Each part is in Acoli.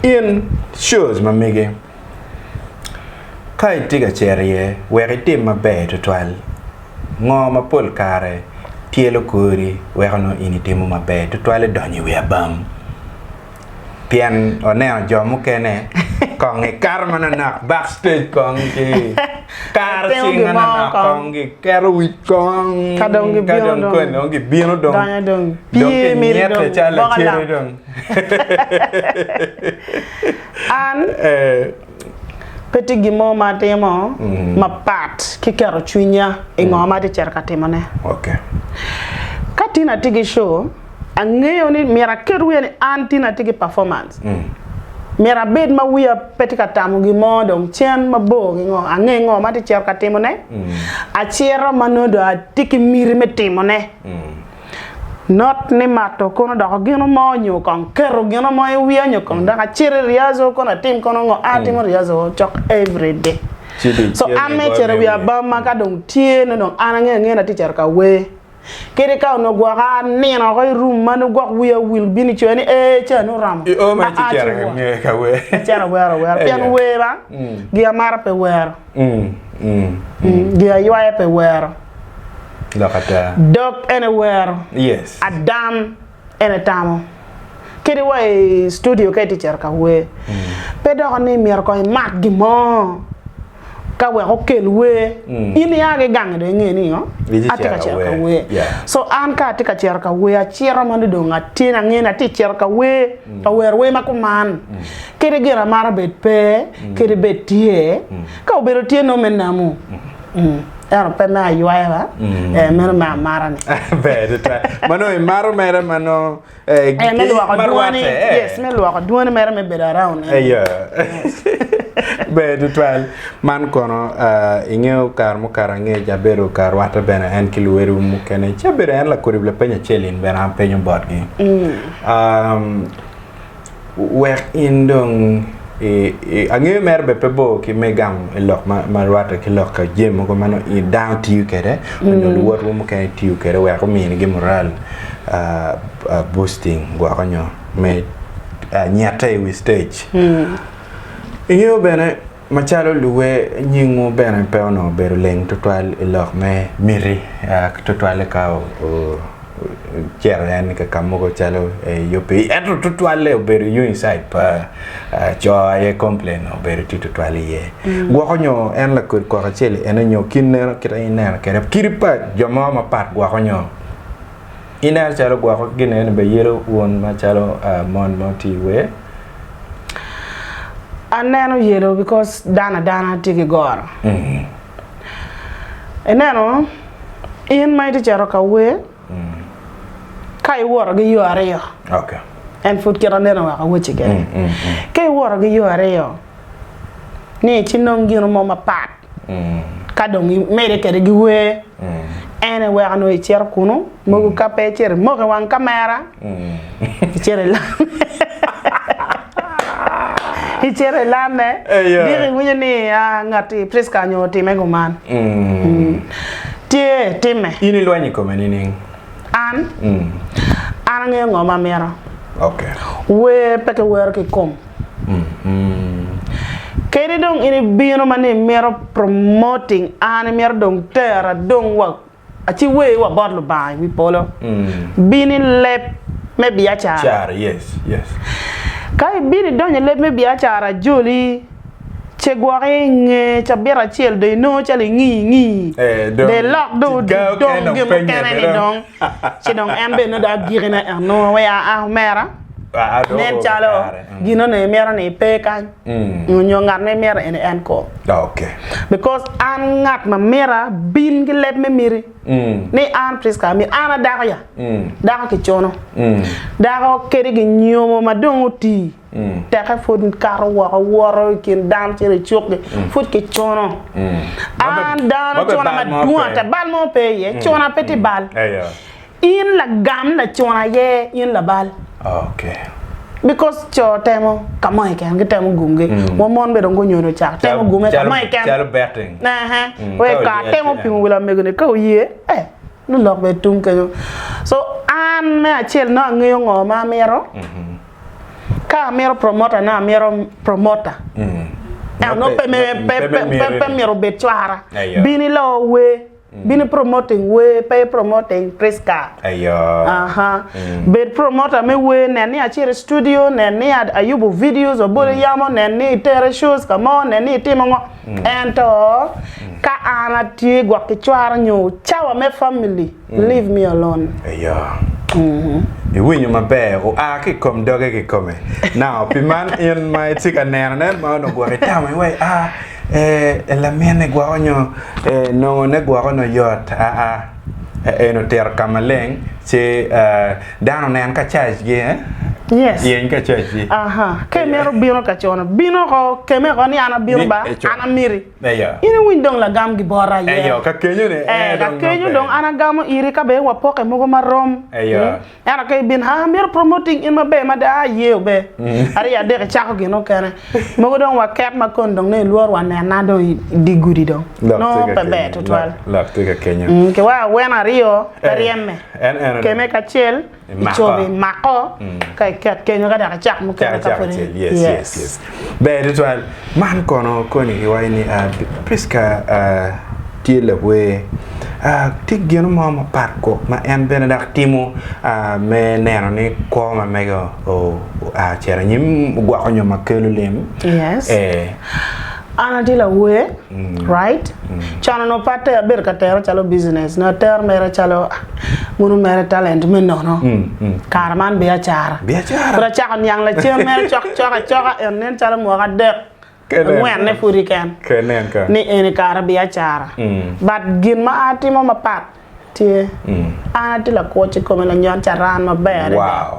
In coc ma mege, ka itye ka cito iye wek itim maber tutwal, ngo ma pol kare tyelo kori weko nongo in itimo maber tutwal idonyo i wi abam? Pien waneno jo mukene kongi kato manonok back stage kongi ki karo cing manonok kongi keto wic kong kadong kony dong gibino dong dong kinyete calo lacere dong. An pe tye gin mo ma atimo mapat ki keto cwinya i ngo ma atye ka cito ka timone. Ka Tina tye ki co, angeyo ni myero aket wiya ni an Tina atye ki performance. Myero abed ma wiya pe tye ka tamo gin mo dong cen mabor ki ngo. Angeyo ngo ma atye ka cito ka timone, acito ma nongo dong atye ki miti me timone. Not ni mato kono doko gino mo nyo kong keto gino mo i wiya nyo kong dok acit i rehearsal kono atim kono ngo a atimo rehearsal cok everyday. So an me cito i wi abamma ka dong tye nongo dong an angeyo angeya ni atye cito ka wer. Kadi ka onongo gwoka anino oko i room ma nongo gwok wiya owil bino i coya ni ee ca nongo oromo. I o mere ci cito ka wer. Acito awero awera pien wer an gi amaro pe wero. Gin a ywaye pe wero, dok en ewero, adam en etamo. Kadi wa i studio ka itye cito ka wer, pe doko ni myero kong imat gin mo ka wek okel wer. In ia ki gangi dong inge ni atye ka cito ka wer. So an ka atye ka cito ka wer, acito ma nongo dong atye ni angeyo ni atye ka cito ka wer. Ka wero wer ma kuman, kadi gin amaro bed pe, kadi bed tye, ka obedo tye nongo me namu, ento pe me aywaya, ee, meno me amara-ni. Ber tutwal. Ma nongo imaro mere ma nongo ee, Ee, me lwoko ma dwoni, rwatte, ee. yes, me lwoko dwoni mere me bedo around en. Aye. Ber tutwal. Man kono aa, ingeyo kare mukato angec abedo ka rwatte bene en ki luwotgi mukene, ci abedo en lakodib lapeny acel in bene apenyo botgi. Wek in dong angeyo mere bene pe bor ki me gamo lok ma rwatte ki lok jami mogo ma dano tiyo kwede nyo luwotwa mukene tiyo kwede wek ominigi mural boosting gwoko nyo me nyette i wi citec. Ingeyo bene Macalo luwe, nyingwu bene pe onongo bedo leng tutwal i lok me miti, tutwalle ka wucito en ka mogo calo UPE. Ento tutwalle obedo i Unicide pa co aye complain obedo tye tutwal iye. Gwoko nyo en lakodi kwok acel ene nyo kin neno kit aye ineno kwede. Kit pa jo mo mapat gwoko nyo. ineno calo gwoko ki gineni bene yelo wun macalo uh, mon ma otii wer? Aneno yelo because dano adana tye ki goro. Ineno in ma itye cito ka wer ka iwoto ki yo aryo Okay. en pud kit aneno wek awacci kene. Ka iwoto ki yo aryo ni ci nong gino mo mapat ka dong gimede kwede giwer en aye weko nongo icito kunu mogo ka pe icito imoko i wang kamera icito icito ilame diki iwinyo ni ngati Prisca onongo otime kuman tye time. In ilwenyo i kome nining? An an angeyo ngo ma amito wer pe kiwero ki kom. Kadi dong in ibino ma ni imito promoting an imito dong tera dong wa aci wer wa bot Lubanga i wi polo. Bino i leb me biacara. Ka ibino idonyo i leb me biacara ajoli ce gwoki inge cabit acel dong inongo calo ingi ingi dong ilok dong dong gin mukene ni dong. ci dong en bene nongo dong agikine anongo wai aa omera nen calo mm. gino ni imito ni pe kany mm. onyo ngat ma imito eni en ko okay because an ngat ma mira bin ki leb me miri mm. ni an Prisca amir an adako ya dako ki cono dako kedi gi nyomo ma dong otii teke pud kato woko woto i kin dano ci ri cukgi pud kicuno an dano cuna madwong ata bal mo pe iye cuna pe tye bal in lagam lacuna aye in labal because co temo kamo keken gitemo gumgi wa mon bene dong gunyodo ocako temo gume kamo keken wek ka atemo pingo wi lamego ni ka oye lulok bene tung kenyo so an me acel nongo angeyo ngo ma amito. Ka amito promota ne amito promota ento nongo pe me pe pe pe myero obed cwara bino iloo wer bino promoting wer pe promoting Prisca aha bed promota me wer nen ni acito i studio nen ni ayubo videos abolo yamo nen ni itera i shows ka mo nen ni itimo ngo ento ka an atye gwok ki cwara nyo cawa me family. Leave me alone. Eyo. Iwinyo maber, oa ki i kom doge kikome. Now, pi man in ma itye ka nenone ma onongo gwok itamo iwaci, Ah, ee, laminni gwoko nyo ee, nongone gwoko nongo yot. Aa, ee, en otito ka maleng ci dano onen ka cajgi, ee? Yes. Yeny ka cajgi. Aha, ka imito bino ka cono, bin oko, keme oko ni an abino ba, an amiti. Eyo. In iwiny dong lagam gibota aye. Eyo, ka kenyo ni, ee Eh, dong kakenyo nonge. dong an agamo iri ka bene wapoke mogo ma rom. Eyo. Mm. Ento ka ibin, haa, amito promoting in maber mada, aa iye obe. Aryo adek icako gin mukene. Mogo dong waket ma koni dong nongo ilwor wa nena dong i i di gudi dong. Lok tye Nongo ka pe ber kenyo. tutwal. Lok, lok tye ka kenyo. Mm, kiweko awene aryo, pe Eh, ryeme. en eno dong. Keme kacel. icobe imako ka iket kenyo ka dok icak mukene ka pud ber tutwal man kono koni iwaci ni Prisca tye lawer tye gino mo mapat kok ma en bene dok timo me neno ni kwo ma mege oa ocito anyim ogwoko nyo ma kelo lem an atye lawer. Right? Can onongo pe ater, abedo ka tere calo business, nongo ater mere calo mono mere talent me nono. Kare man biacara. Biacara. Pud acako niang lacen mere cok cok acoka en nen calo mwaka adek, Kenen. angwenne pudi ken. Kenen ka. Ni eni kare biacara. But gin ma atimo mapat, Tye. An atye lakwoc i kome lanyut carani maber adada.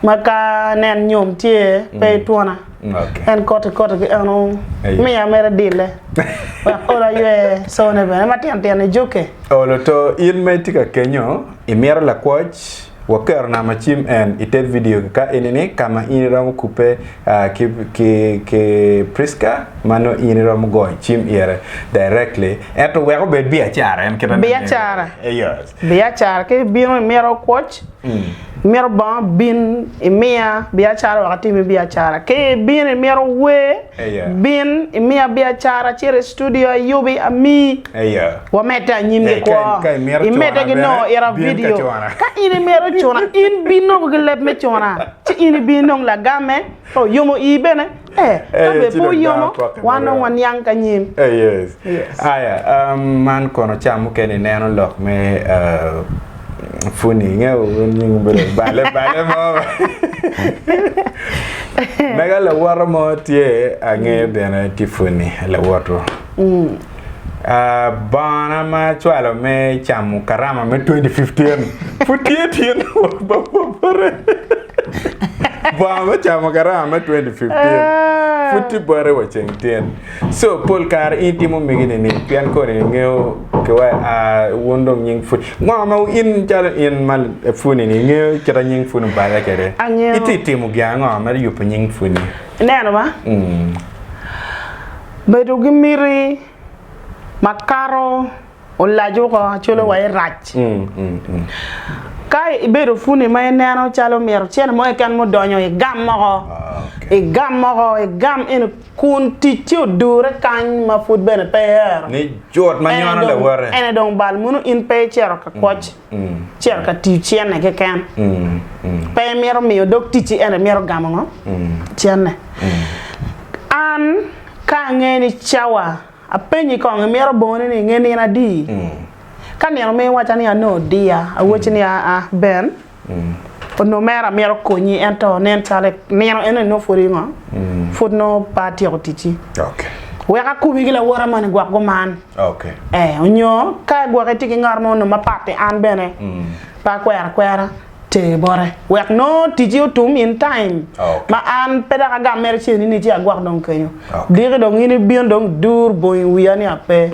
Ma ka nen nyom tye pe itwona. En koti koti ki eno miya mere adille wek olo aywe cone bene matino tino i jukke. Olo to in ma itye ka kenyo imito lakwoc? Waketo nam acim en i te vidiogi ka enini ka ma in iromo kubbe ki Prisca ma nongo in iromo goyo cim ire directly ento wek obed biacara en kit Biacara Biacara ki bino imito kwoc imito bongo bin imiya biacara wek atimi biacara ki ibino imito wer bin imiya biacara acit i studio ayubi amiyi. Wamedde anyim ki kwo. Imedde ki nongo ita vidio. Ka in imito cuna, in bin nongo ki leb me cuna, ci in ibin nongo lagamme. Oh, yomo ii bene? Ee, ka be pe wuyomo, wan dong waniang ki anyim. Aya, man kono ca mukene ineno lok me puni, ingeyo nying bedo bale bale mo. Mega lawoto mo tye ange bene Tiffany lawoto. Bongona ma acwalo me camo karama me 2015 pud tye tye bote. Bongo me camo karama me 2015 pud tye bote wa ceng tyen. So pol kare in timo migi nini pien kodi ingeyo kiwa wun dong nying pud. Ngo ma in calo in ma puni ni ingeyo kita nying puni obale kede. Ititimo gin ango me yubo nying puni? Ineno ma? Bedo ki miti ma kato olaco ko calo wa irac. Ka ibedo puni ma ineno calo myero cene mo keken ma odonyo igam moko, igam moko, igam eni kun ticci odure kany ma pud bene pe iero. Ni cut ma nyono lawote. Ene dong bal munu in pe icito ka kwoc. cito ka tiyo cene keken. Pe imito miyo dog ticci ento imito gamo ngo? Cene. An ka angeyo ni cawa apenyi kong imito bongone ni nge nino adi? Ka nino omiyo iwaca ni ano dear awacci ni aa Ben onongo mere amito konyi ento nen calo nino enoni nongo pud ingo? Pud nongo pe atyeko ticci. Wek akobi ki lawote moni gwok guman. Onyo ka gwok itye ki ngat mo onongo ma pat i an bene pe akwero akwera ter bote wek nongo tiji otum in time ma an pe dok agam mere ce ni ci agwok dong kenyo diki dong in ibino dong idur bongo i wiya ni ape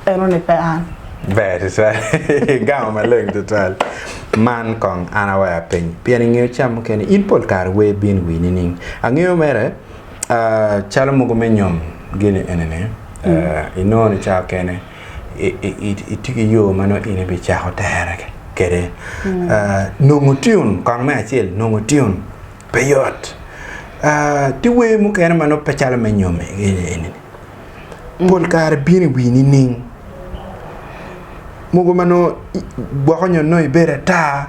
eno ni pe an. Ber tutwal igamo maleng tutwal man kong an aweyo apeny pien ingeyo cam mukene in pol kare wer bino i wiyi nining angeyo mere. Calo mogo me nyom gini eni ni inongo ni cawa kene itye ki yo ma nongo in ibicako tere kede. Nongo tune kong me acel nongo tune pe yot. Tye wer mukene ma nongo pe calo me nyom gini eni ni pol kare bino i wi nining mogo ma nongo gwoko nyo nongo ibedo ata.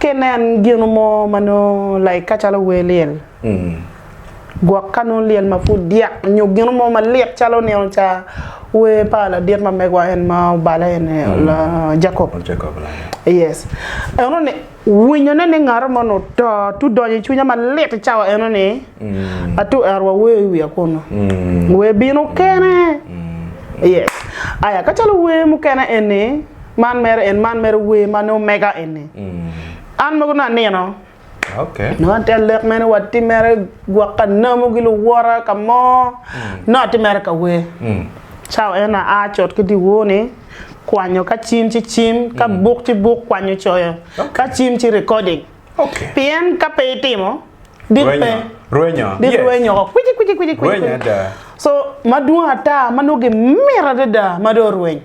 Ka inen gino mo ma nongo like ka calo wer lyel, gwok ka nongo lyel ma pud dyak nyo gino mo malit calo nino ca wer pa ladit ma megwa en ma obale eni Jacob yes eno ni winyo ne ni ngato moni oto tye donyo i cwinya malit i cawa eno ni atu ero wa wer i wiya kunu wer bino kene yes aya ka calo wer mukene eni. Man mere en man mere wer ma nongo mega eni. Mm. An mogo nongo anino. Okay. No an tel lek mene wa ti mere gwok ka namu gi luwora ka mo. Mm. No ti mere ka wer. Mm. Cao en a a cot ki di woni kwanyo ka cim ci cim ka mm. buk ci buk kwanyo coyo okay. ka cim ci recording. Okay. Pien ka pe itimo dit pe. Rwenyo. Dit yes. rwenyo ko kwiji kwiji kwiji kwiji. Rwenyo da. So madwong ata ma nongo gimira dada ma do rwenyo.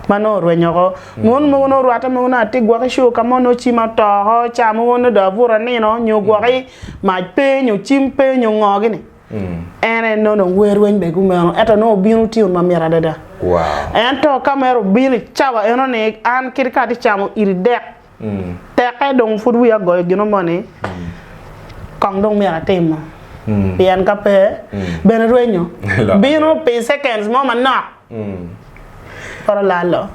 ma nongo orwenyo oko. Mon mogo nongo orwatte mogo nongo atye gwoki cur ka mo nongo cim ato oko, ca mogo nongo dong abuto anino nyo gwoki mac pe nyo cim pe nyo ngo gini. En aye nongo dong wer weny be kumeno ento nongo obino otyeno mamit adada. Ento ka mere obino i cawa eno ni an kit ka atye camo iri dek Tekke dong pud wiya goyo gino mo ni, Kong dong myero atimo, pien ka pe, bene rwenyo bino pi seconds mo manok, kore lalo.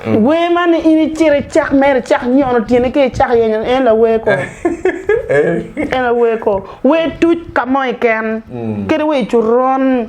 Wer man ni in icit icak mere, icak nyono tyeni ki icak yenyo en la wer ko, en aye wer ko. Wer tuc ka mo keken, kadi wer coron.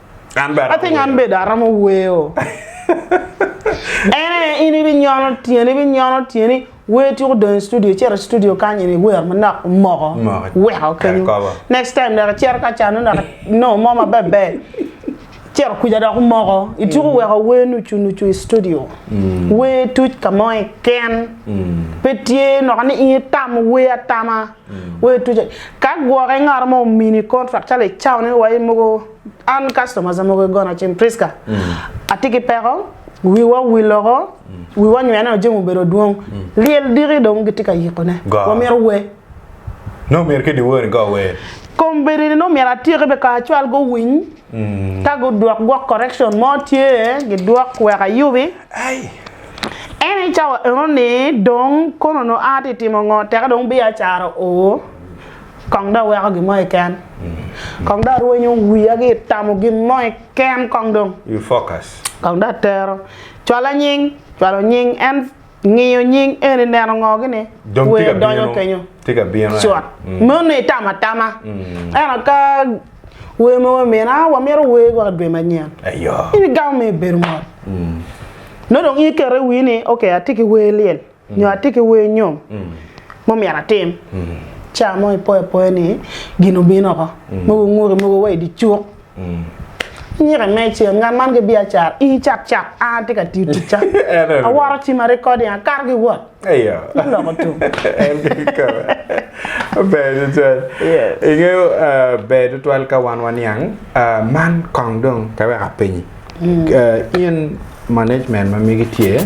An bene atero. I think an bene aromo weo. en aye in ibinyono tyeni ibinyono tyeni wer tuko dong i studio cito i studio kany en iwer manok moko weko kenyo next time dok icito ka can nongo dok no mo ma ber ber cito kuca dok omoko ituko mm. weko wer nucu nucu i studio mm. wer tuc ka mo iken mm. pe tye noka ni in itamo wer atama Ka gwoki ngat mo omini contract calo i cawa ni wa in mogo an customers mogo i gona cen Prisca atye ki peko wiwa owil loko wiwa onywene neno jami obedo dwong lyel diki dong gitye ka yiko ne wa myero we nongo myero kiddi woni go wer. Kombeddi ni nongo myero atyeki be kara cwal go winy. Ka gudwok gwok correction mo tye gidwok wek ayubi. Ene i cawa eno ni dong kono onongo aa ti timo ngo teke dong biacara o kong dong aweko gin mo keken kong dong arwenyo wiya ki itamo gin mo keken kong dong kong dong atero cwalo nying cwalo nying en ngiyo nying eni neno ngo gini wer donyo kenyo cot meno itamo atama ento ka wer mogo imino a wamito wer gwok idwe manyen in igamo ma ibedo mot nongo dong in iketo i wii ni ok atye ki wer lyel nyo atye ki wer nyom ma myero atim ca mo ipoyo apoya ni gin obino oko mogo ngute mogo wa idye cuk. Anyike me cen nga man ki biacara ii cakcak an atye ka tiyo ticca awoto cima recording akato ki wot me loko tum. Ber tutwal. Ingeyo ber tutwal ka wan waniang man kong dong ka wek apenyi in management ma megi tye